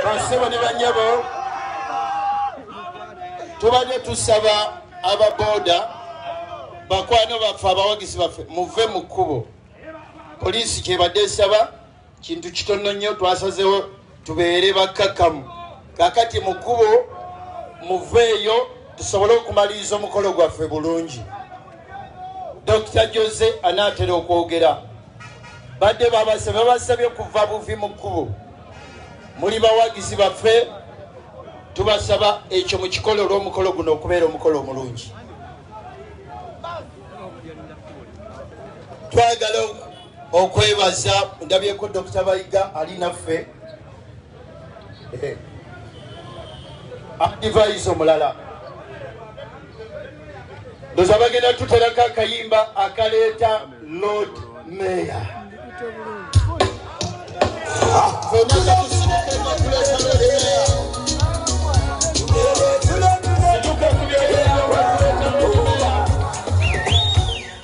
basebo ne banyabo tubadde tusaba ababoda bakwano baffe abawagizi baffe muve mu kkubo poliisi kyebadde esaba kintu kitono nnyo twasazewo tubeere bakkakkamu kakati mu kkubo muveeyo tusobole okumaliriza omukolo gwaffe bulungi dokita jose anaatera okwogera badde babase babasabye okuva buvi mu kkubo muli bawagizi baffe tubasaba ekyo mu kikolo olw'omukolo guno okubeera omukolo omulungi twagala okwebaza ndabyeko dokita bayiga ali naffe eh. adivise omulala ndoza bagenda tuterako akayimba akaleeta lord mayor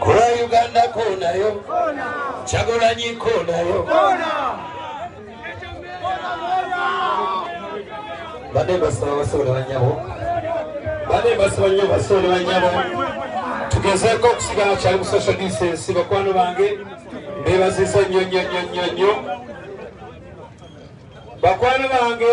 Kula Uganda konayo Kyagulanyi konayo bade basaba basobola banyabo bade basaba nyo basobola banyabo tugezeeko okusigala kyali mu social distance bakwano bange bebazisa nyo nyo nyo nyo nyo bakwano bange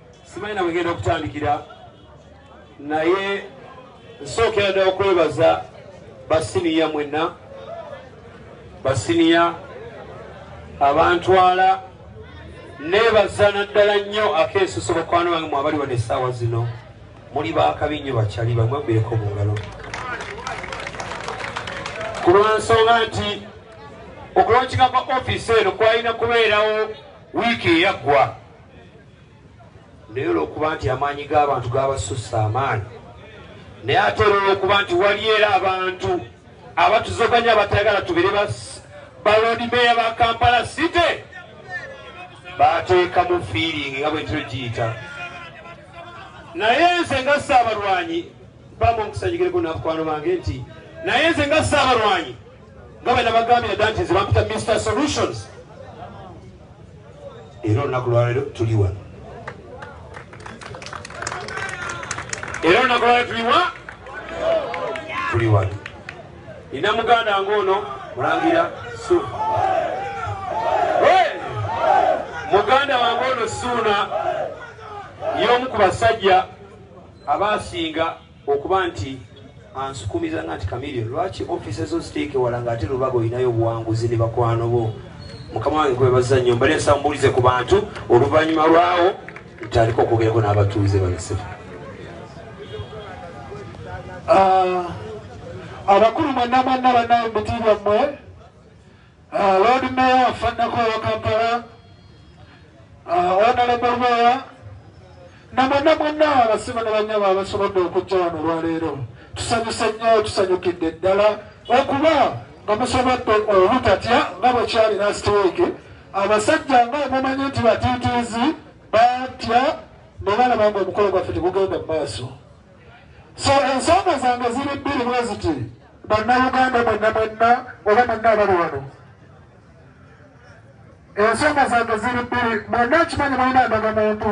simanyi na wegenda okutandikira naye nsookera ddala okwebaza basiniya mwenna basiniya abantwala nebaza naddala nnyo akeesuso bakwano bange mwabali wano essaawa zino muli bakabi nnyo bakyali bamwabireko mu ngalo ku lwansonga nti okulonkinga kwa ofiisi eno kwalina kubeerawo wiiki eyaggwa naye olwokuba nti amaanyi g'abantu gabasussa amaanyi naye ate era olwokuba nti waliyo era abantu abatuzoganya batayagala tubere baloodi meeya ba kampala city bateekamu fiiringi nga bwentiro giyita naye nze nga saabalwanyi bamu omukusanyigireko nabakwano bange nti naye nze nga saabalwanyi nga bwe nabagambira dda nti nze bampita mr solutions era olunaku lwalero tuli wano era olunaku lwalero tuliwa tuli wano ina muganda ngaono mulangira su muganda wange ono suuna y'omu ku basajja abaasinga Okuba nti ansukumiza nga nti Chameleone lwaki office zo ziteeke wala nga ate lubaga olinayo obuwanguzi ne bakwano bo mukama wange kwebaza nnyo mbale nsa mbuulize ku bantu oluvannyuma lwawo ntandika okwogerako n'abatuuze banasebo ah, abakulu mwenna mwenna banaye mubitiibwa mmwe Uh, Lord Mayor afanako wa Kampala uh, Honorable Mayor namana mwenna abasibe ne banyabo abasobodde okujja wano olwaleero tusanyuse nnyo tusanyukidde ddala okuba nga musobodde obutatya nga bwe kyali last week abasajja nga mumanyi nti batiitiizi batya ne balaba nga omukolo gwaffe tegugenda mu maaso so ensonga zange ziri bbiri bwe ziti bannauganda mwenna mwenna oba mwenna abali wano ensonga zange ziri bbiri mwenna ekimanyi mulina ndaga muntu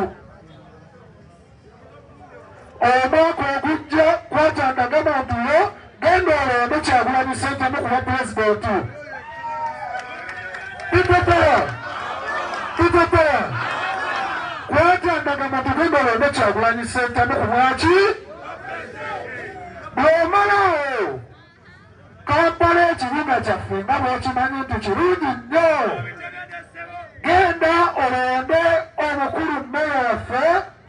omwaka ogujja kwata ndaga muntu yo Genda olonde Kyagulanyi Ssentamu ku bwa pulezidenti. Tuteteya, tuteteya, kwata ndagama tugenda olonde Kyagulanyi Ssentamu ku bwaki bw'omalawo Kampala ekibuga kyaffe nga bw'okimanyi nti kirungi nnyo. Genda olonde omukulu mmeeya waffe.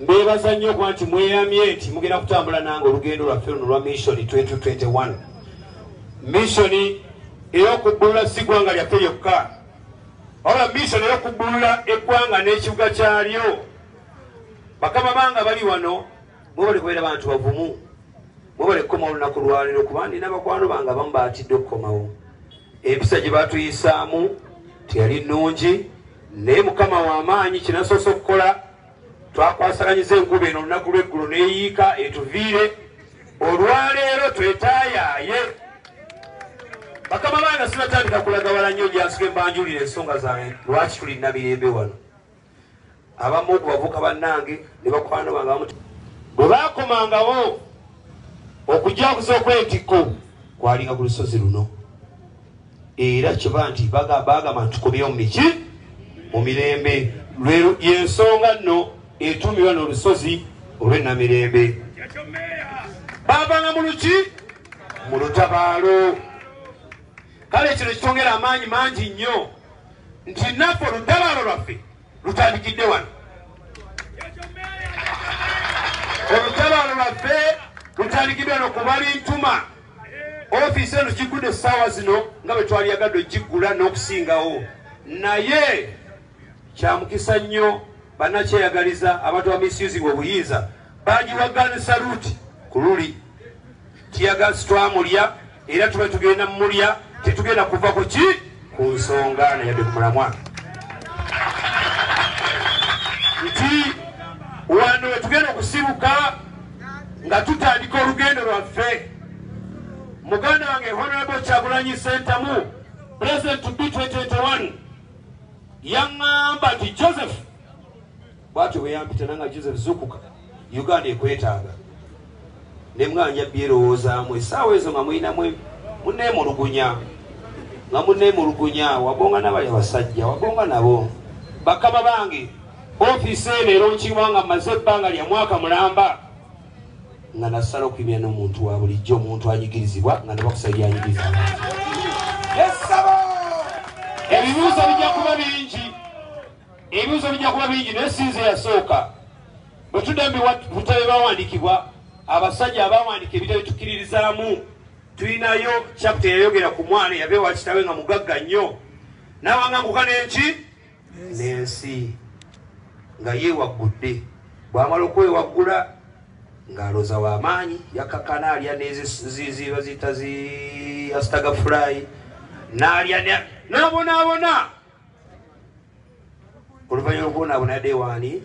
mbebaza nnyo okuba nti mweyamye nti mugenda kutambula nange olugendo lwaffe luno lwa missioni 2021 missioni eyokubbulula si gwanga lyaffe lyokka wabula missioni eyokubbulula eggwanga n'ekibuga kyalyo bakama banga bali wano mwebale kubeera bantu bavumu mwebale kukoma olunaku lwaliro kuba nina bakwano bange abamu baatidde okukomawo empisa gye batuyisaamu teyali nnungi Naye Mukama wa maanyi, kye nasoose okukola, twakwasaganyiza enkuba eno olunaku lw'eggulo n'eyiika etuviire. Olwaleero twetaayaaye. Bakama bange sinatandika kulaga wala nnyo gyansuke mbanjulira ensonga zange lwaki tuli Namirembe wano. Abamu ku bavuka bannange ne bakwano bange abamu bwe baakomangawo okujaguza okwetikko kwalinga ku lusozi luno. era kiba nti bagamba nti tukomyewo mumiki mu mirembe lwero yensonga nno etuumirwa n'olusozi olw'enamirembe baavanga mu luki mu lutabaalo kale kino kitongera amaanyi mangi nnyo nti naffe olutabaalo lwaffe lutandikidde wano olutabaalo lwaffe lutandikidde wano kubali ntuma ofiisi eno giggudde essaawa zino nga bwe twali yagadde ogiggula n'okusingawo naye kyamukisa nnyo bannakyeyagaliza abantu bamisyuzibwa obuyinza bagiwagani saluti ku luli tiyagasi twamulya era tuba tugenda mumulya tetugenda kuva ku ki ku nsonga ne yadde ku mulamwa nti wano wetugenda okusibuka nga tutandika olugendo lwaffe muganda wange honorable kyagulanyi sentamu president to be 2021 yaŋŋamba nti joseph Bwatyo bwe yampita nanga Joseph Zukuka, Uganda ekwetaaga. Ne mwanja byerowoozaamu essaawa ezo nga mulinamu muneemulugunya nga muneemulugunya wagonga nabali abasajja wagonga nabo bakama bange ofiisi eno era okiwa nga mmaze ebbanga lya mwaka mulamba nga nasala okuyimira n'omuntu wa bulijjo omuntu anyigirizibwa nga nabakusa byanyigiriza abantu ebibuuzo bijja kuba bingi Ebibuuzo bijja kuba bingi naye si nze yasooka. Bwe tudda mu bitabo ebyawandiikibwa, abasajja abaawandiika ebitabo bitukiririzaamu, tulinayo chapita eyayogera ku mwana eyava ewa kitawe nga mugagga nnyo n'awanganguka n'enki n'ensi nga yeewaggudde bw'amala okwewaggula ng'alooza w'amaanyi yakakana alya neziba ziyita zi asitagafulayi n'alya n'abonaabona oluvannyuma lwokubonaabona yadde ewaani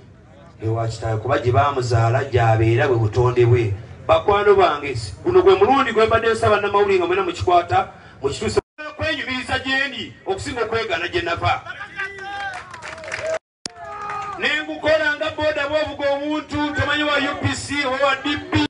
ewa kitaawe kuba gye baamuzaala gyabeera bwe butonde bwe bakwano bange guno gwe mulundi gwe mbadde nsaba namawulire nga mwena mukikwata mukituuse kwenyumiriza gyendi okusinga okwegana gye nava nengukola nga boda bwovuga obuntu tomanyi wa upc owa dp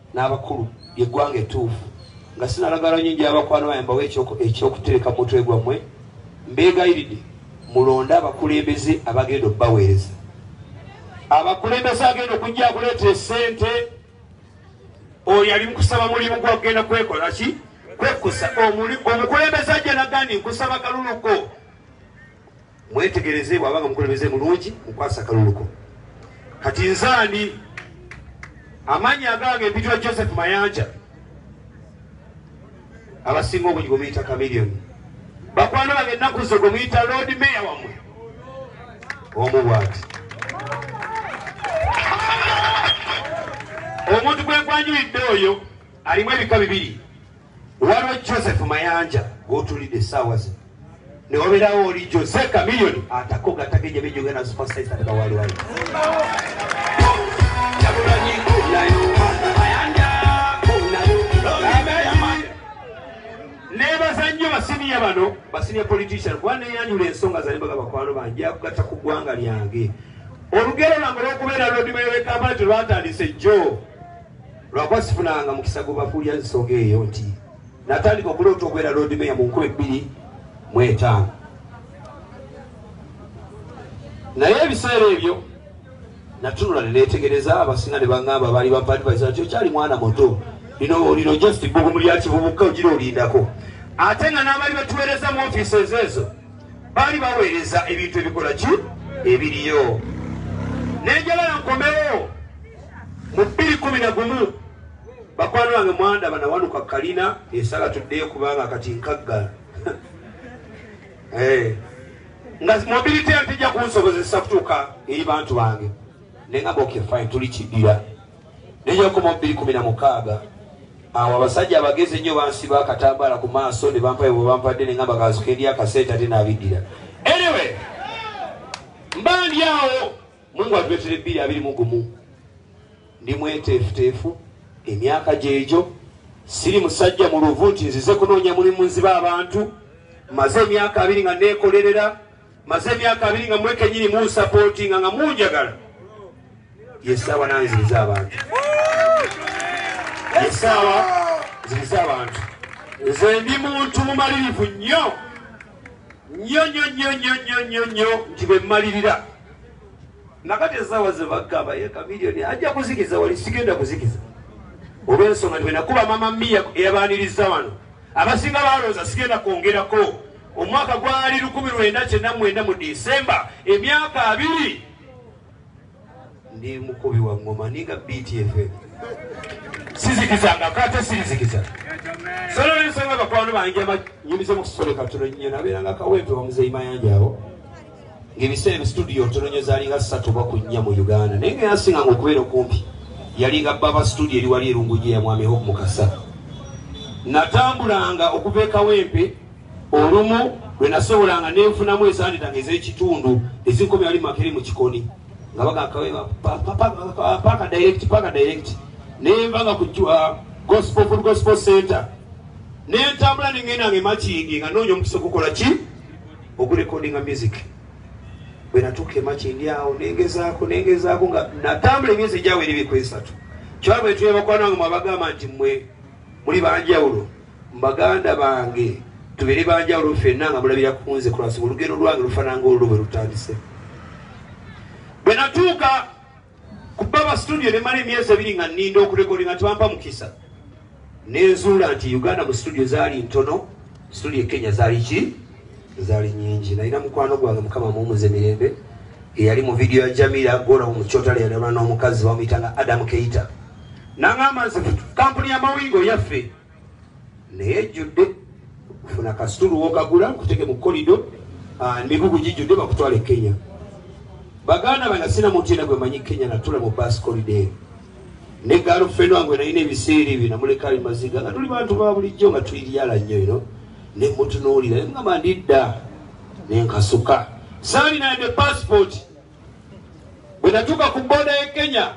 n'abakulu ly'eggwanga ettuufu nga sinalagala nnyo nja abakwano baye mbawo ekyokutereka mu mutwe gwammwe mbeegayiridde mulonde abakulembeze abagenda okubaweereza abakulembeze agenda okujja akuleeta esente oyo ali mukusaba mulimu gwakugenda kwekola ki kwekusa omukulembeze ajja nagandi nkusaba kaluluko Mwetegereze bwaba nga mukulembeze mulungi mukwasa akalulu ko. Kati nze ani? Amannya agange mpitwa Joseph Mayanja. Abasinga obungi gwe muyita Chameleon. Bakwano bange ennaku zo gwe muyita Lord Mayor wamwe. Omu bwati. Omuntu gwe nkwanjulidde oyo alimu ebika bibiri. Waliwo Joseph Mayanja gw'otulidde essaawa zino ne wabeerawo oli Jose Chameleone atako gatageja bejoga na super size ataka wali wali nebaza nnyo basiniya bano basiniya politician kuba neyanjula ensonga zanembaga bakwano bange akugatta ku ggwanga lyange olugero lwange lwokubeera lwodimewekampala telwatandise jjo Lwakuba sifunanga mukisa gubakuulira nsonga eyo nti natandika okuloota okubeera loodi meya mu nkumi bbiri mu etaano naye ebiseera ebyo natunula neneetegereza abasinga ne baŋŋamba baali bapadvisa nti okyali mwana muto lino lino just bbugumu lya kivubuka ogira olindako ate nga n'abaali batuweereza mu ofiisi ezo ezo baali baweereza ebintu ebikola ki ebiriyo nenjagala nkomewo mu bbiri kumi na gumu bakwano bange mwanda banawanuka kalina esala tuddeyo kubanga kati nkagga eh. nga mobility antijja kunsobozesa kutuuka eri bantu bange nengamba okefine tuli kidira New York mu bbiri kumi na mukaaga awo abasajja abagezi ennyo bansiba akatambaala ku maaso ne bampayo bwe bampadde ne ngamba kazuka eri akasente ate n'abiddira anyway mba ndi awo mungu atuletere ebbiri abiri mu gumu ndi mweteefuteefu emyaka gyegyo siri musajja mu luvu nti nzize kunoonya mulimu nziba abantu maze emyaka abiri nga neekolerera maze emyaka abiri nga mwe kenyini munsapootinga nga munjagala yesaawa nanziriza abantu yesaawa nziriza abantu nze ndi muntu mumalirivu nnyo nnyo nnyo nnyo nnyo nnyo nnyo nnyo nti bwe mmalirira nakati esaawa ze bagamba ye kamiliyoni ajja kuzikiza wali sigenda kuzikiza olw'ensonga nti bwe nakuba mama miya eyabaaniriza wano Abasinga baalowooza sigenda kwongerako. Omwaka gwali lukumi lwenda kyenda mwenda mu December, emyaka abiri ndi mukubi wa ngoma ninga BTFM sizikizangako ate sirizikiza solo nensonga bakwano banjama nyumize mukusole katulo nyo nabeeranga kawempe wamuzeyi mayanja awo ng'ebiseera eno situdiyo ntononyo zaalinga ssatu oba ku nnya mu uganda naye nga yasinganga okubeera okumpi yalinga baba situdiyo eri wali erunguji ya mwami hope mukasa natambulanga okuva ekawempe olumu lwe nasobolanga nenfunamu ezanditanga ez'ekitundu ezinkomi wali makeri mu kikoni nga bagakawepaka direct paka direct nenva nga ku uh, gospel full gospel center nentambula nengendanga emakingi nga noonya omukisa okukola ki ogu recordinga music bwenatuuka emakindi awo nengezaako nengezaako nga natambula emyezi ejawo eri bikwesatu kyaba bwetuya bakwano wange mwabagamba nti mwe muli banjawulo mbaganda bange tubere banjawulo fenna nga mulabira kunze kulwasiba olugendo lwange lufananga olulwo bwe lutandise bwenatuuka Ku Baba Studio ne mala emyezi ebiri nga nninda okurekodi nga tewampa mukisa. Ne nzuula nti Uganda mu studio zaali ntono, studio e Kenya zaali ki? Zaali nyingi. Nalina mukwano gwange Mukama amuwumuze mirembe eyali mu vidiyo ya Jamila Gola mu Kyotale yalabana n'omukazi bamuyita nga Adam Keita. N'angamba nze kampuni y'amawulire oyaffe. naye ejjudde funa kasitulu wokagula nkuteke mu kolido ah, emigugu gijjudde bakutwala e kenya baganda bana sina muntu yena gwe manyi kenya natula mu bas kolido eyo ne galufeno wange nalina ebiseera ebyo namuleka ali maziga nga tuli bantu ba bulijjo nga tuliryala nnyo ino ne mutunuulira ne mugamba ndidda nenkasuka saalina yadde pasipooti bwe natuuka ku booda ye kenya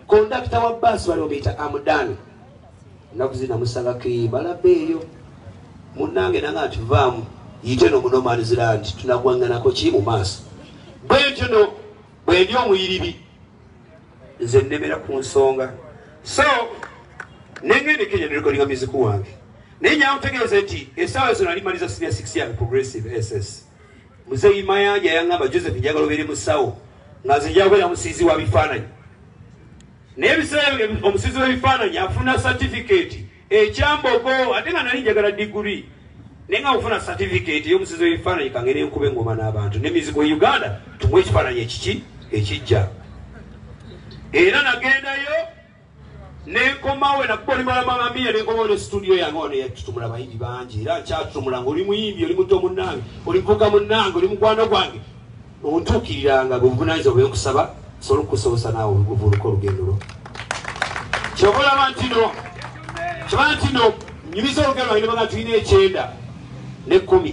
Kondakita wa baasi bali omuyita Amudan nnaku zina musabako eyo balaba eyo munnange nanga nti vaamu yite no munomanizira nti tunagwanganako ki mu maaso bwe ntyo no bwendi omuyiribi nze nnemera ku nsonga so nengende kenya nerekodinga muziku wange naye nyamutegeeze nti esaawa zino alimaliza senior six young progressive ss muzeyi mayanja yangamba joseph njagala obeere musawo nga nze njakubeera musiizi wa bifaananyi naye ebiseera omusiizi w'ebifaananyi afuna satifikeeti ekyambogo ate nga nali njagala diguri naye nga ofuna satifikeeti ey'omusiizi w'ebifaananyi kange nenkuba engoma n'abantu ne mizigo e uganda tumu ekifaananyi ekiki ekijja era nagendayo nenkomawo nakuba oli malama mamiya nenkomawo ne situdiyo yange ono yatutumula bayimbi bangi era nkyatutumula nga oli muyimbi oli muto munange oli muvuga munange oli mukwano gwange ontuukiriranga bwebuvunanyiza bwenkusaba sobola okukusobosa naawe obuvuuluka olugendo lwo kyova olaba nti no kyova nti no nyumiza olugendo lwange nebaga tulina ekyenda nekumi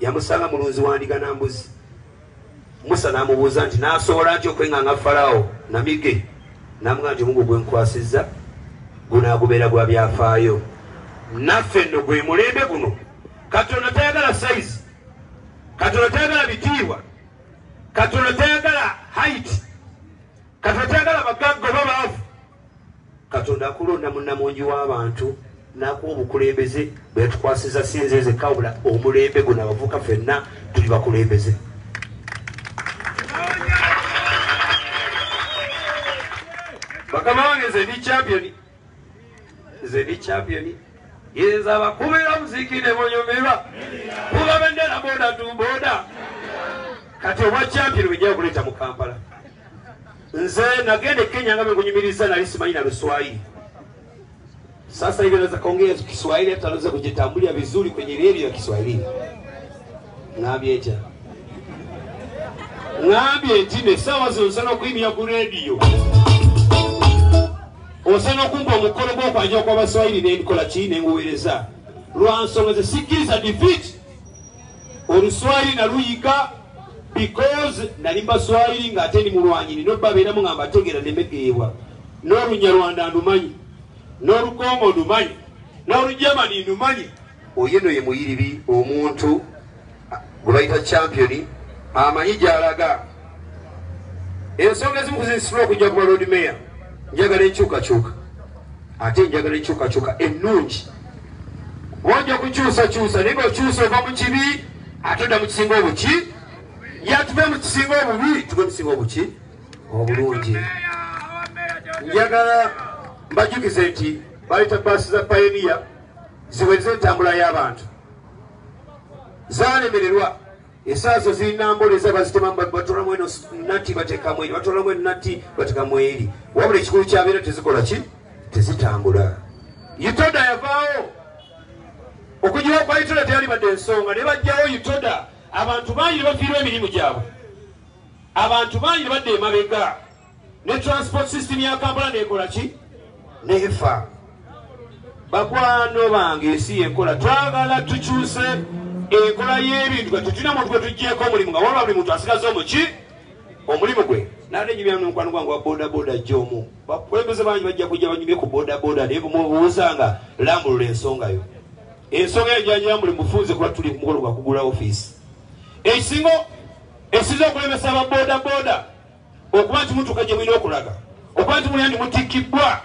yamusanga mulunzi wa ndiga na mbuzi musa n'amubuuza nti n'asobola nti okwenganga falawo namige namuga nti omugu gwenkwasizza gunaagubeera gwa byafaayo naffe nno gwe mulembe guno katonda tayagala sayizi katonda tayagala bitiibwa katonda tayagala haiti Katonda tayagala bagagga oba baavu. Katonda akulonda munnamungi w'abantu n'akuwa obukulembeze bwe yatukwasiza si nze nzekka wabula omulembe guno abavubuka fenna tuli bakulembeze. Bakama wange nze ndi champion. nze ndi champion yenza abakubira muziki ne bonyumirwa kuba bendera boda tu boda kati obwa champion bwejja okuleeta mu kampala nze nagenda e kenya nga bekunyumiriza nali simanyi na luswayiri sasa hivi naweza kaongea kiswahili hata naweza kujitambulya vizuri kwenye redio ya kiswahili ŋambye ntya ŋambye nti no essaawa zino nsana okuyimira ku rediyo osana okumpa omukolo gw'okwanjira kwa baswahili nenkola ki nenguweereza lwa nsonga ze sikkiriza defeat oluswahili naluyiga because nali mbaswahili ng'ate ndi mulwanyi nina obabeeramu nga mbategeera nemegeebwa n'olunyarwanda ndumanyi n'olukongo ndumanyi n'olugermani ndumanyi Oyo no ye muyiribi omuntu gwebayita champion amanyi gyalaga ensonga ezimu kuzinsima okujja kuba lord mayor njagala enkyukakyuka ate njagala enkyukakyuka ennungi oja okukyusakyusa naye ngaokyusa ova mu kibi ate odda mu kisinga obuki yatuve mu kisinga obubi tuve mukisinga obuki obulungi njagala mbajukize nti baleta baasi za payoniya ziweze entambula y'abantu zalemererwa esaazo zirina mbola eza bazitemamu batolamu eno nati batekamu eri batolamu eno nati batekamu eri wabula ekikulu kyabeera tezikola ki tezitambula yutoda yavaawo okujiwa kwa yutoda teyalibadde ensonga ne bajjawo yutoda abantu bangi ne bafiirwa emirimu gyabwe abantu bangi ne badda emabega ne transport system ya kampala nekola ki nefa bakwano bange ensi yenkola twagala tukyuse enkola y'ebintu kati tulina muntu gwe tuggyeko omulimu nga waba buli muntu asigaza omuki omulimu gwe nate nyumyamu nomukwano gwange wa bodaboda jja omu bakulembeze bangi bajja kujja banyumye ku bodaboda naye mubuuzanga lambulula ensonga yo ensonga eyo janyambuli mufunze kuba tuli ku mukolo gwakugula ofiisi ekisinga esinza okulemesa ababodaboda okuba nti mutuuka gye mulina okulaga okuba nti mulina ndi mutikkibbwa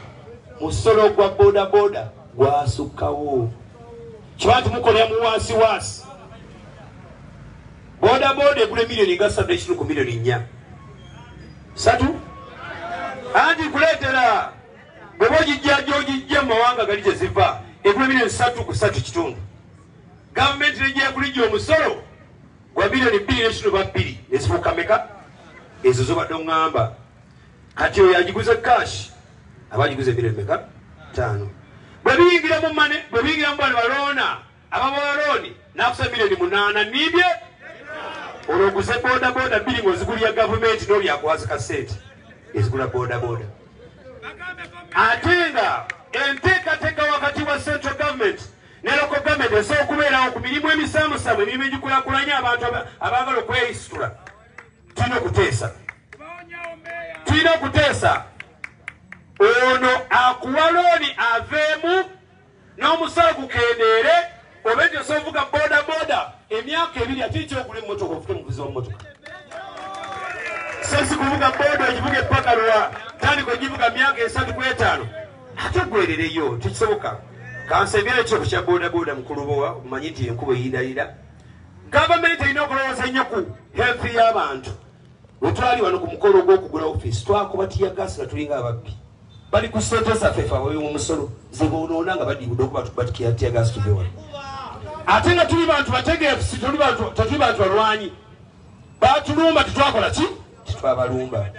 musolo gwa bodaboda gwasukkawo kiba nti mukolera mu wansi wansi bodaboda egula emiliyoni nga satu ekinu ku miliyoni nnya satu anti kuleetera bweba ogijja gyogijja mu mawanga gali gye ziva egula emiliyoni satu ku satu kitundu gavumenti nejyakulijja omusolo Gwa billion bbiri ne kitunuba bbiri ne zifuuka meka? Ezo zobadde oŋŋamba. Kati oyo agiguze cash aba agiguze billion meka? Ttaano. Bwe biyingira mu mane, bwe biyingira mu bano baloona, ababawalooni n'akusa miliyoni munaana niibye olwo oguze bodaboda bbiri ng'ozigulira gavumenti n'oli akwaza ka ssente ezigula bodaboda ate nga enteekateeka wakati wa central government ne Local Government esobola okubeerawo ku mirimu emisaamusaamu emirimu egikulakulanya abantu abaagala okweyisitula tulina okuteesa tulina okuteesa ono akuwa looni aveemu n'omusolo gukendeere oba ekyo sovuga boda boda emyaka ebiri ate ekyogula emmotoka ofute muvuzi wamumotoka sesi kuvuga boda ogivuga epakalwa tandika ogivuga myaka esatu kwetaano ate gwerereyo tekisoboka kansembere ekyo kukya bodaboda mukulubowa omanyi nti enkuba eyindayira gavumenti erina okulowooza ennyo ku health y'abantu wetwali wano ku mukolo ogw'okugula ofiisi twakuba tiyagaasi nga tulinga ababbi bali ku sente zaffe fe ababi mumusolo zebonoona nga badibude okuba tubatikira tiyagaasi tuve wano ate nga tuli bantu bategeefu tetuli bantu balwanyi batulumba tetwakola ki tetwabalumba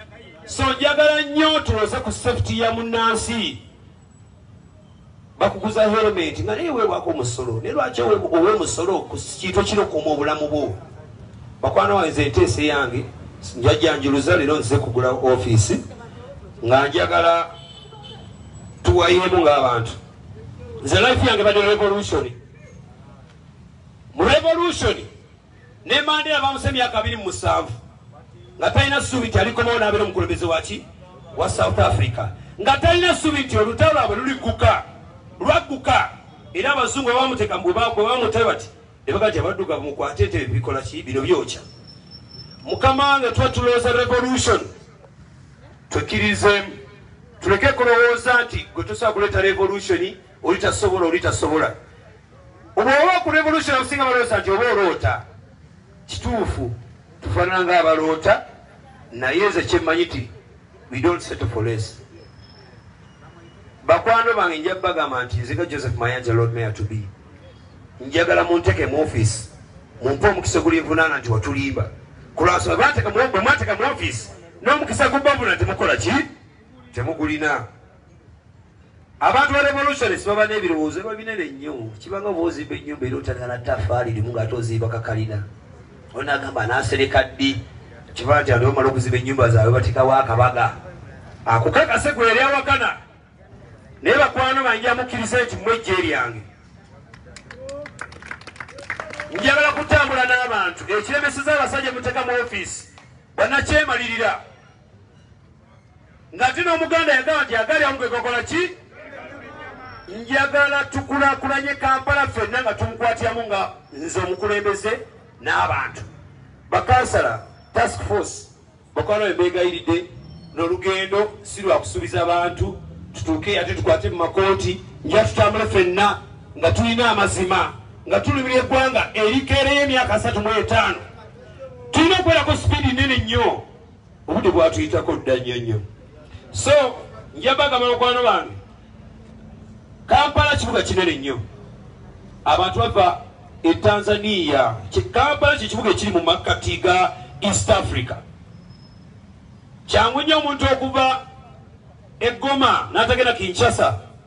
so njagala nnyo tuloze ku safety ya munnansi bakuguza helmet nga naye wewako omusolo naye lwaki owe musolo ku kintu kinokuuma obulamu bwo bakwana wange nze enteesa eyange njajjanjuluza leero nzize kugula ofiisi nga njagala tuwayeemu ng'abantu nze life yange bade revolution mu revolution Ne Mandela baamusse emyaka abiri mu musanvu nga talina ssuubi nti alikomawo n'abeera omukulembeze waki wa South Africa nga talina ssuubi nti olutalo lwabwe luligguka lwagguka era abazungu abamuteeka bwe bamutabe bati ne baga nti abaddugavu mukwate entebe bikola ki bino byokya mukama wange tuba tulowooza revolution twekkirizeemu tuleke kulowooza nti gwe tusobola kuleeta revolution oli tasobola oli tasobola obwoba ku revolution abasinga balowooza nti oba oloota kituufu tufaanana nga abaloota naye nze kyemmanyi ti we don't settle for less bakwano bange nja bagamba nti nziga joseph mayanja lord mayor to be njagala munteke mu office mumpe omukisa ogulinvunaana nti watulimba kulwansonga bwemwateka mu office n'omukisa gubavuna temukola ki temugulina abantu ba revolutionis baba n'ebirowoozo eba binene nnyo kibanga oba ozimba ennyumba era otandika na tafaali limu ngaate ozimba kakalina ona agamba anasereka ddi kibaa nti aliwo mala okuzimba ennyumba zaabwe batekawo akabaga akukakase gwe yali awakana naye bakwano banja mukkiriza nti mwejje eryange njagala kutambula n'abantu ekiremeseza abasajja muteka mu ofiisi banakyemalirira nga ti n'omuganda yagamba nti agali amu gegakola ki njagala tukulakulanye kampala ffenna nga tumukwatiramu nga nze omukulembeze n'abantu bakansala task force bakwano bebeegayiridde n'olugendo si lwakusuubiza bantu tutuuke ate tukwate mu makooti nja tutambule ffenna nga tulina amazima nga tulumira eggwanga erikeereyo emyaka asatu mu etaano tulina okubeerako sipiidi nene nnyo obudde bwatuyitako dda nnyo nnyo so nja bagamba bakwano bange kampala kibuga kinene nnyo abantu bava e tanzania kampala kyekibuga ekiri mu makkati ga east africa kyangu nnyo omuntu okuva eggoma n'atagenda kinshasa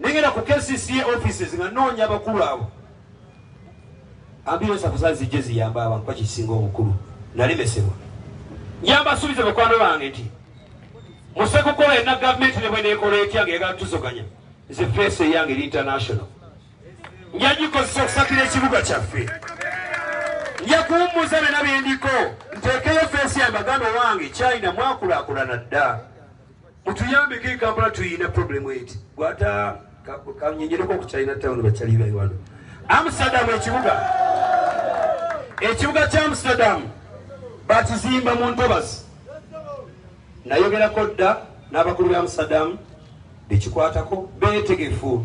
Nengera ku KCCA offices nga noonya abakulu abo ambiyo safuza zijje ziyamba abantu bakisinga obukulu nalemesebwa nyambasubiza bakwano bange nti musekukola ena gavumenti ne bweneekola etya nga yagala tusoganya nze feesi eyange eri international nja gikozesa okusakira ekibuga kyaffe nja kuwummuza byona byendiko nteekeyo feesi yange baganda owange china mwakulakulana dda Mutuyambeko e Kampala tuyina problem eti. Gwata kanyenyereko ku China town bachali ba Rwanda. Amsterdam ekibuga. Ekibuga cha Amsterdam bakizimba mu ntobas. Nayogera kodda n'abakulu ba Amsterdam bekikwatako betegefu.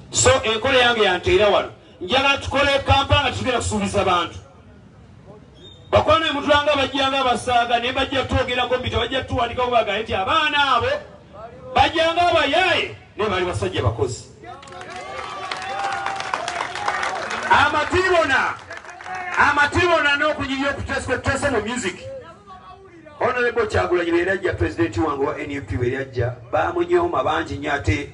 so enkola yange yanteera wano njagala tukole kampala nga tugenda kusuubiza bantu bakwana emutulanga bajjanga abasaaga naye bajja twogerako mbi tebajja tuwandikako baga nti abaana abo bajjanga abayaaye naye bali basajja bakozi amatibona amatibona n'okunyirya okuteskwetese mu music honorable kyagulanyi beyali ajja pulezidenti wange wa nup beyali ajja bamunyooma bangi nyo ate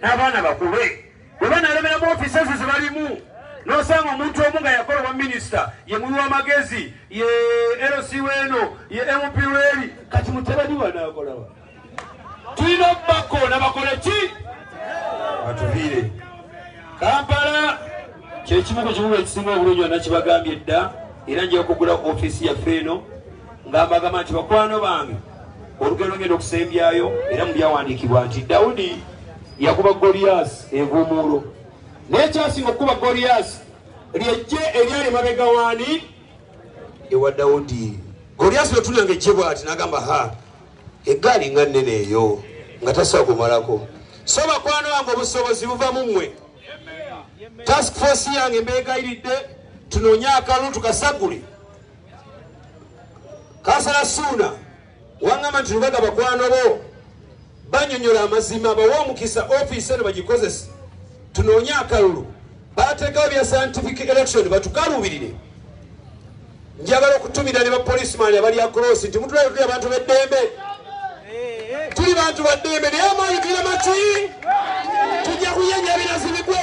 n'abaana bakube bwe banalemera mu ofiisi ezo ze balimu nosanga omuntu omu nga yakola owa minisita ye muwi w'amagezi ye lc weeno ye mp weeri kati mutabani wanakolawa tulina okubakoona bakole ki batuviire kampala kyekimu ku kibuga ekisinga obulungi anakibagambye dda era nja okugula ofiisi yaffe eno ng'ambagamba nti bakwano bange olugero lugenda okusembyayo era mu byawandiikibwa nti dawudi yakuba goliyaasi envuumuulo naye kyasinga okukuba goliyaasi lyejje eryali mabega waani ewa dawudi goliyaasi lwetunanga ejje bwati nagamba ha eggaali nga nnene eyo nga tasobola kumalako so bakwano wange obusobozi buva mu mmwe task force yange mbeegayiridde tunoonye akalulu tukasagule kansala suuna wangamba nti lubaga bakwano bo banyonyola amazima bawa omukisa ofiisi eno bagikozese tunoonye akalulu bateekawo bya scientific election batukaluubirire njagala okutumira ne bapolisimaani abali akrosi nti mutulayo tuli abantu beddembe tuli bantu baddembe naye amaanyi tulina maki tujja kuyenya ebinazi bigwe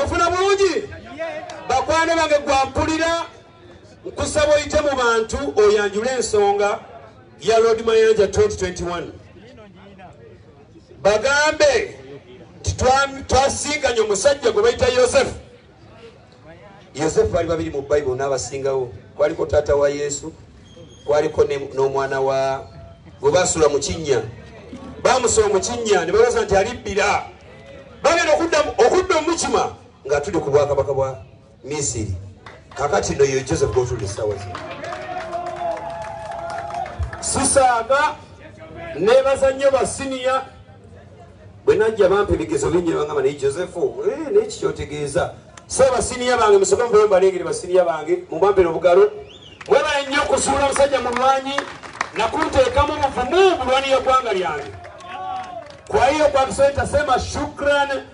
ofuna bulungi bakwano bange gwampulira nkusaba oyite mu bantu oyanjule ensonga ya lord mayanja 2021 bagambe twasinkanye omusajja gwe bayita yosefu yosefu bali babiri mu bayibuli n'abasingawo kwaliko taata wa yesu kwaliko n'omwana wa gwe basula mu kinnya bamusula mu kinnya ne babaza nti alibbira bagenda okudda omukima nga tuli ku bwakabaka bwa misiri kakati no ye joseph gotuli essaawa zino sisaaga nebaza nnyo basiniya bwe najja bampa ebigezo bingi nebangamba naye joseph eh, naye kikyotegeeza so basiniya bange musoke muvule mubalengere basiniya bange mubampere obugalo mwebale nnyo okusuula omusajja mulwanyi nakunteekamu obuvumu bulwaniyo eggwanga lyange kwa hiyo kwa kusema shukran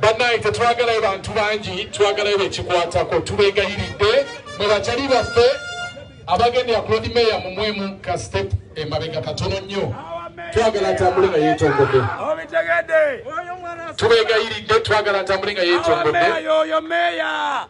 bannaye tetwagalayo bantu bangi twagalayo bekikwatako tubegayiridde mwe bakyali baffe abagendera ku lodi meeya mumwemu ka step emabega katono nnyo twagala atambule nga yetongodde tubegayiridde twagala atambule nga yetongodde